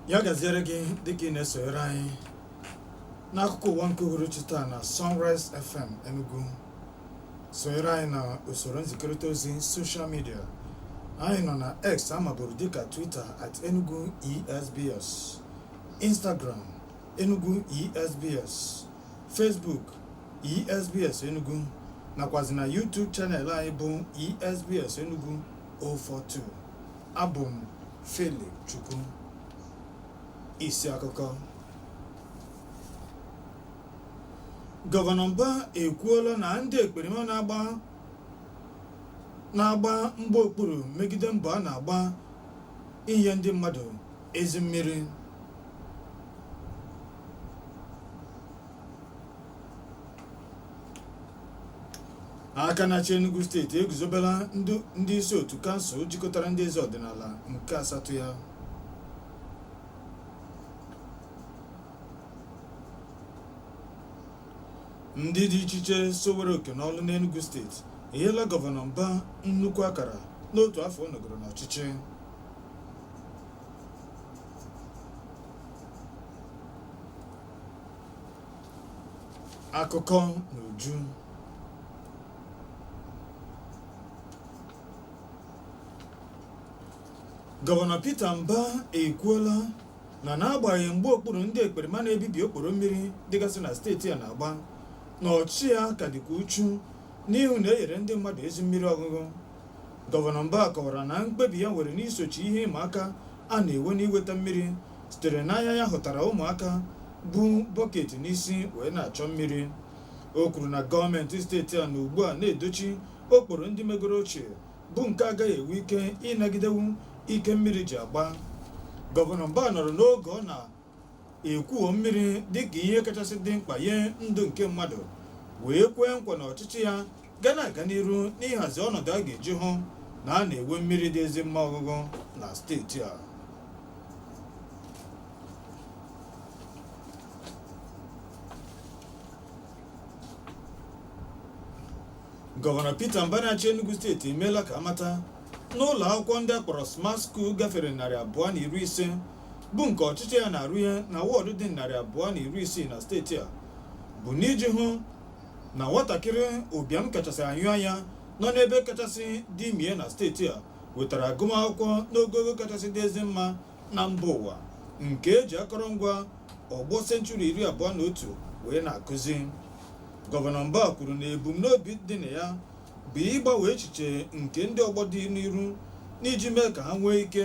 ya gaziere gị dịka ị na-esonyere anyị n'akụkọ ụwa nke uhuruchi taa na Sunrise FM Enugu sonyere anyị na usoro nzikọrịta ozi soshal midia anyị nọ na X a maburu dịka Twitter at Enugu ESBS Instagram Enugu ESBS Facebook ESBS Enugu nakwazi na YouTube channel anyị bụ ESBS Enugu 042 abụ m Philip Chukwu isi akụkọ gọvanọ Mba ekwuola na ndị ekperima na-agba mgba okpuru megide mbọ a na-agba inye ndị mmadụ ezi mmiri aka na-achị Enugu steeti eguzobela ndị isi otu kansụl jikọtara ndị eze ọdịnala nke asatọ ya ndị dị iche iche sowere oke n'ọlụ n'Enugu steeti enyela gọvanọ Mba nnukwu akara n'otu afọ ọ nọgoro n'ọchịchị akụkọ n'uju gọvanọ Peter Mba ekwuola na n'agbanyeghị mgba okpuru ndị ekperima na-ebibi okporo mmiri dịgasị na steeti a na-agba na ọchịchị ya ka dịkwa uchu n'ịhụ na e nyere ndị mmadụ ezi mmiri ọṅụṅụ gọvanọ Mba kọwara na mkpebi ya nwere n'isochi ihe ịma aka a na-enwe n'iweta mmiri sitere n'anya ya hụtara ụmụaka bu bọket n'isi wee na-achọ mmiri o kwuru na gọọmenti steeti a na ugbu a na-edochi okporo ndị megoro ochie bụ nke agaghị enwe ike ịnagidenwu ike mmiri ji agba gọvanọ Mba nọrọ n'oge ọ na-ekwuo mmiri dịka ihe kachasị dị mkpa nye ndụ nke mmadụ wee kwee nkwa na ọchịchị ya ga na-aga n'iru n'ịhazi ọnọdụ a ga-eji hụ na a na-enwe mmiri dị ezi mma ọṅụṅụ na steeti a gọvanọ Peter Mbah na-achị Enugu steeti emeela ka a mata na ụlọ akwụkwọ ndị a kpọrọ smart school gafere narị abụọ na iri ise bụ nke ọchịchị ya na-arụ ihe na wọọdụ dị narị abụọ na iri isii na steeti a bụ n'iji hụ na nwatakịrị ụbịam kachasị anyụ anya nọ n'ebe kachasị dị mie na steeti a wetara agụmakwụkwọ n'ogogo kachasị dị ezi mma na mba ụwa nke e ji akọrọngwa ọgbọ senchuri iri abụọ na otu wee na-akụzi gọvanọ Mba kwuru na ebumnobi dị na ya bụ ịgbanwe echiche nke ndị ọgbọ dị n'iru n'iji mee ka ha nwee ike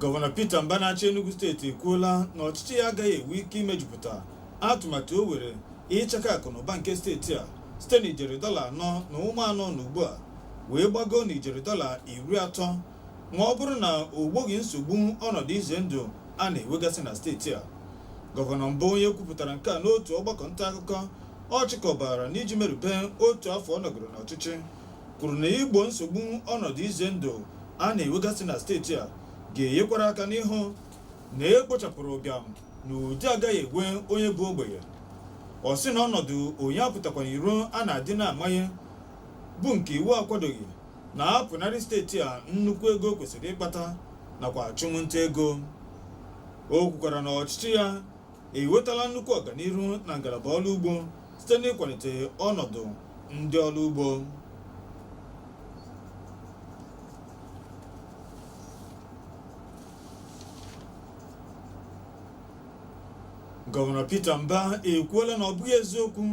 gọvanọ Peter Mba na-achị Enugu steeti ekwuola na ọchịchị ya agaghị enwe ike imejupụta atụmatụ o were ịchaka akụ na ụba nke steeti a site na ijeri dọla anọ na ụma anọ na ugbu a wee gbagoo na ijeri dọla iri atọ ma ọ bụrụ na o gboghị nsogbu ọnọdụ ize ndụ a na-enwegasị na steeti a gọvanọ Mba onye kwupụtara nke a n'otu ọgbakọ nta akụkọ ọ chịkọbara n'iji merube otu afọ ọ nọgoro n'ọchịchị kwuru na igbo nsogbu ọnọdụ ize ndụ a na-enwegasị na steeti a ga-enyekwara aka n'ịhụ na e kpochapụrụ ụbịam na ụdị agaghị enwe onye bụ ogbenye ọ sị na ọnọdụ onye apụtakwana iro a na-adị na-amanye bụ nke iwu akwadoghị na-apụnarị steeti a nnukwu ego kwesịrị ịkpata nakwa achụmnta ego o kwukwara na ọchịchị ya ewetala nnukwu ọganiru na ngalaba ọlụ ugbo site n'ịkwanite ọnọdụ ndị ọlụ ugbo gọvanọ Peter Mba ekwuola na ọ bụghị eziokwu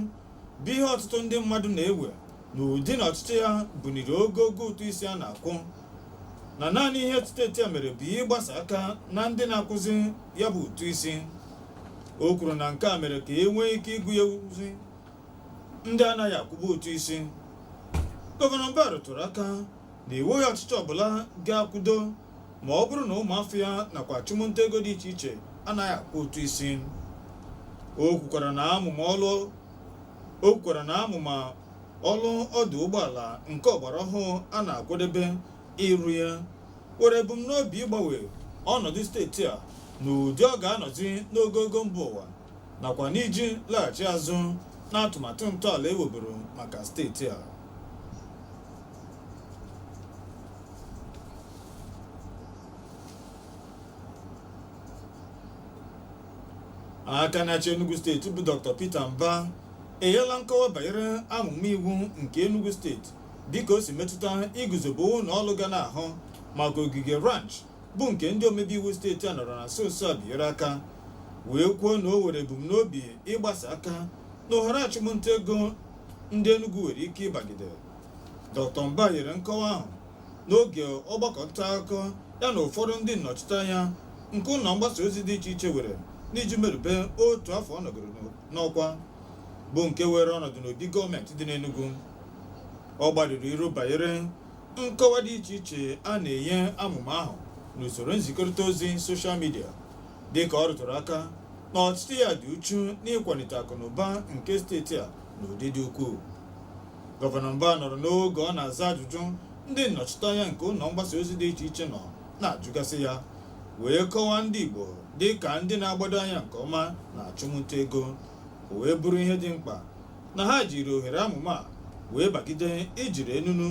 bụ ihe ọtụtụ ndị mmadụ na-ewe n'ụdị na ọchịchị ya buniri ogogo ụtụ isi a na-akwụ na naanị ihe steeti a mere bụ ịgbasa aka na ndị na-akwụzi ya bụ ụtụ isi o kwuru na nke a mere ka e nwee ike ịgụnyezi ndị anaghị akwụbu ụtụ isi gọvanọ Mbah rụtụrụ aka na e nweghị ọchịchị ọbụla ga-akwụdo ma ọ bụrụ na ụmụafọ ya nakwa achụmnta ego dị iche iche anaghị akwụ ụtụ isi o kwukwara na amụma ọlụ ọdụ ụgbọala nke ọgbara ọhụụ a na-akwadebe ịrụ ya were ebumnobi ịgbanwe ọnọdụ steeti a n'ụdị ọ ga-anọzi n'ogogo mba ụwa nakwa n'iji laghachi azụ n'atụmatụ ntọala e weburu maka steeti a aka na-achị Enugu steeti bụ Dr. Peter Mba enyela nkọwa banyere amụma iwu nke Enugu steeti dịka o si metụta iguzobe ụlọ ọlụ ga na-ahụ maka ogige ranch bụ nke ndị omebe iwu steeti a nọrọ na nso nso a binyere aka wee kwuo na o were ebumnobi ịgbasa aka na ohere achụmnta ego ndị Enugu nwere ike ịbagide Dr. Mba nyere nkọwa ahụ n'oge ọgbakọ nta akụkọ ya na ụfọdụ ndị nnọchiteanya nke ụlọ mgbasa ozi dị iche iche were n'iji merube otu afọ ọ nọgoro n'ọkwa bụ nke were ọnọdụ n'obi gọọmenti dị n'Enugu ọ gbarụrụ iru banyere Nkọwa dị iche iche a na-enye amụma ahụ n'usoro nzikọrịta ozi soshal midia dịka ọ rụtụrụ aka na ọchịchị ya dị uchu n'ịkwalite akụnụba nke steeti a n'ụdị dị ukwuu. Gọvanọ Mba nọrọ n'oge ọ na-aza ajụjụ ndị nnọchiteanya nke ụlọ mgbasa ozi dị iche iche nọ na-ajụgasị ya wee kọwaa ndị Igbo dị ka ndị na-agbado anya nke ọma n'achụmnta ego o wee bụrụ ihe dị mkpa na ha jiri ohere amụma a wee bagide ijiri enunu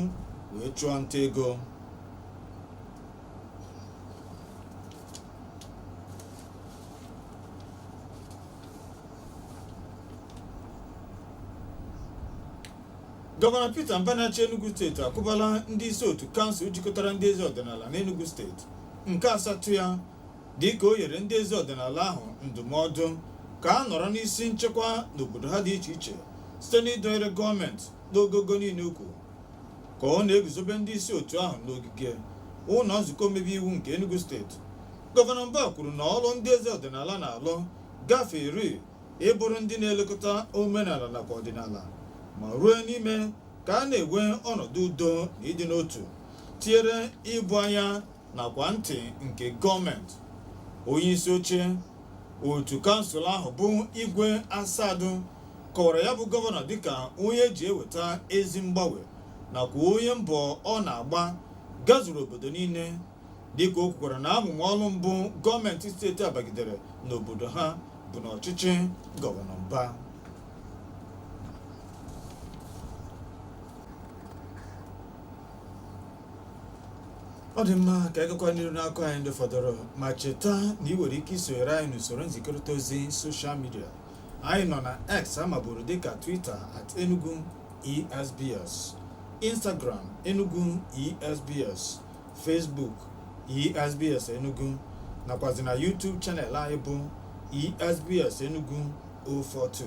wee chụọ nta ego gọvanọ Peter Mba na-achị Enugu steeti akwụbala ndị isi otu kansụl jikọtara ndị eze ọdịnala n'Enugu steeti nke asatọ ya dịka o nyere ndị eze ọdịnala ahụ ndụmọdụ ka a nọrọ n'isi nchekwa n'obodo ha dị iche iche site n'ịdọnyere gọọmenti n'ogogo niile ukwu ka ọ na-eguzobe ndị isi otu ahụ n'ogige ụlọ nzukọ omebe iwu nke Enugu steeti gọvanọ Mbah kwuru na ọrụ ndị eze ọdịnala na-alụ gafere ịbụrụ ndị na-elekọta omenala nakwa ọdịnala ma ruo n'ime ka a na-enwe ọnọdụ udo na ịdị n'otu tinyere ịbụ anya nakwa ntị nke gọọmenti onyeisi oche otu kansụl ahụ bụ Igwe Asadu kọwara ya bụ gọvanọ dịka onye ji eweta ezi mgbanwe nakwa onye mbọ ọ na-agba gazuru obodo niile dịka o kwukwara na amụma ọrụ mbụ gọọmenti steeti a bagidere n'obodo ha bụ n'ọchịchị gọvanọ Mba ọ dị mma ka a gakwa n'iru n'akụkọ anyị ndị fọdụrụ ma cheta na i nwere ike isonyere anyị n'usoro nzikọrịta ozi soshal midia anyị nọ na x a maburu dịka twitter at enugu esbs instagram enugu esbs facebook esbs enugu nakwazi na youtube channel anyị bụ esbs enugu 042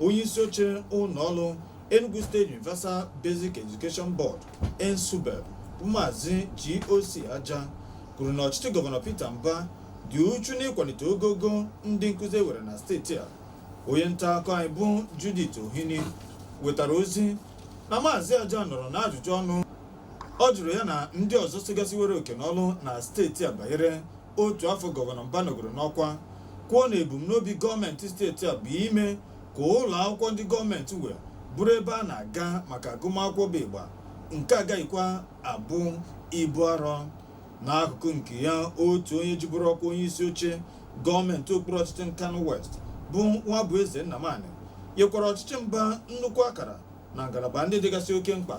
onye isi oche ụlọ ọrụ Enugu State Universal Basic Education Board ENSUBEB bụ maazị GOC Aja kwuru na ọchịchị gọvanọ Peter Mba dị uchu n'ịkwalite ogogo ndị nkụzi e were na steeti a onye nta akụkọ anyị bụ Judith Ohini wetara ozi na maazị Aja nọrọ n'ajụjụ ọnụ ọ jụrụ ya na ndị ọzọ sigasịwere oke n'ọrụ na steeti a banyere otu afọ gọvanọ Mba nọgoro n'ọkwa kwuo na ebumnobi gọọmenti steeti a bụ ime ka ụlọ akwụkwọ ndị gọọmenti nwe bụrụ ebe a na-aga maka agụmakwụkwọ bụ ịgba nke agaghịkwa abụ ibu arọ n'akụkụ nke ya otu onye jiburu ọkwa onye isi oche gọọmenti okpuru ọchịchị Nkanu West bụ Nwabueze Nnamani nyekwara ọchịchị Mba nnukwu akara na ngalaba ndị dịgasị oke mkpa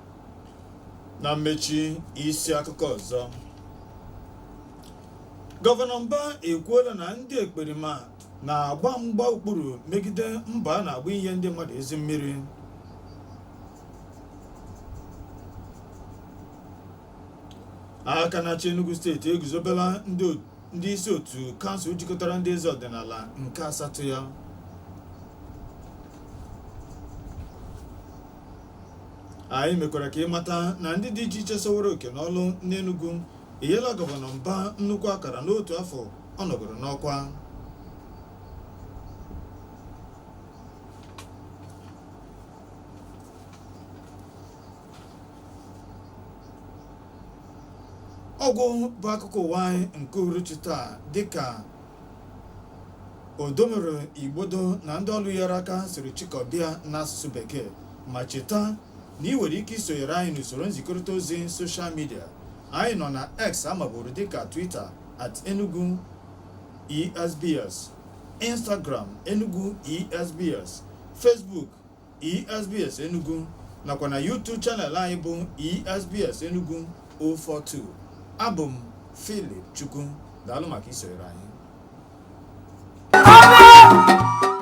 na mmechi isi akụkọ ọzọ gọvanọ Mba ekwuola na ndị ekperima na-agba mgba okpuru megide mbọ a na-agba inye ndị mmadụ ezi mmiri aka na-achị Enugu steeti eguzobela ndị o- ndị isi otu kansụl jikọtara ndị eze ọdịnala nke asatọ ya anyị mekwara ka ị mata na ndị dị iche iche soworo oke n'ọrụ n'Enugu enyela gọvanọ Mba nnukwu akara n'otu afọ ọ nọgoro n'ọkwa ọgwụgwụ akụkọ ụwa anyị nke uhuruchi taa dịka Odomero Igbodo na ndị ọrụ nyere aka siri chịkọba ya n'asụsụ bekee ma cheta na i nwere ike isonyere anyị n'usoro nzikọrịta ozi soshal midia anyị nọ na x a maburu dịka twitter at enugu esbs instagram enugu esbs facebook ESBS Enugu nakwa na YouTube channel anyị bụ ESBS Enugu 042 abụ m Philip Chukwu daalụ maka isonyere anyị